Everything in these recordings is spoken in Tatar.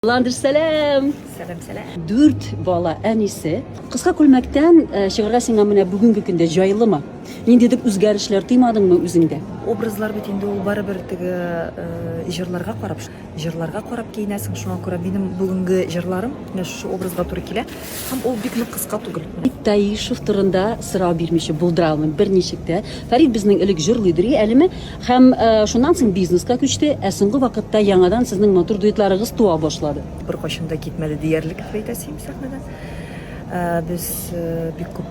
Ландыш, сәлам! Сәлам, сәлам. Дүрт бала әнисе. Кыска күлмәктән э, чыгарга сиңа менә бүгенге көндә җайлымы? Ниндидер үзгәрешләр тыймадыңмы үзеңдә? Образлар бит инде ул барыбер теге э, җырларга карап, җырларга карап киенәсең. Шуңа күрә минем бүгенге җырларым менә шушы образга туры килә. Һәм ул бик нык кыска түгел. Фәрит Таишев турында сорау бирмичә булдыра алмыйм, берничек тә. Фәрит безнең элек җырлыйдыр и әлеме? Һәм шуннан соң бизнеска күчте, ә соңгы вакытта яңадан сезнең матур дуэтларыгыз туа башлады. Беркайчан да китмәде диярлек Фәрит Асим сәхнәдән. Без бик күп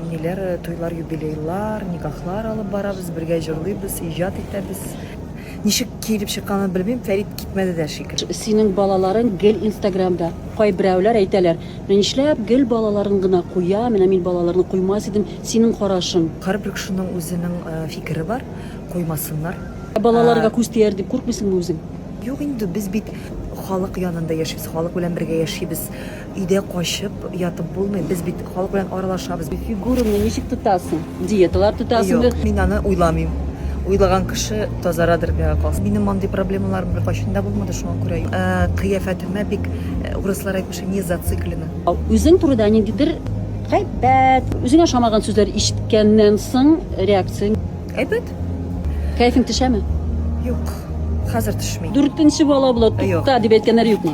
ниләр, туйлар, юбилейлар, никахлар алып барабыз, бергә җырлыйбыз, иҗат итәбез. Ничек киелеп чыкканын белмим, Фәрит китмәде дә шикелле. Синең балаларың гел инстаграмда. Кайберәүләр әйтәләр, менә нишләп гел балаларын гына куя, менә мин балаларны куймас идем, синең карашың? Һәрбер кешенең үзенең фикере бар, куймасыннар. Ә балаларга күз тияр дип куркмыйсыңмы үзең? Юк инде, без бит халык янында яшибез, халык белән бергә яшибез. Өйдә качып ятып булмый, без бит халык белән аралашабыз. Фигураңны ничек тотасың? Диеталар тотасың бит. Юк, мин аны уйламыйм. Уйлаган кеше тазарадыр, миңа калса. Минем мондый проблемаларым беркайчан да булмады, шуңа күрә юк. Кыяфәтемә бик, урыслар әйтмешли, не зациклена. Үзең турыда ниндидер гайбәт, үзеңә ошамаган сүзләр ишеткәннән соң реакцияң? Әйбәт. Кәефең төшәме? Юк, хәзер төшми. Дүртенче бала була, тукта дип әйткәннәр юкмы?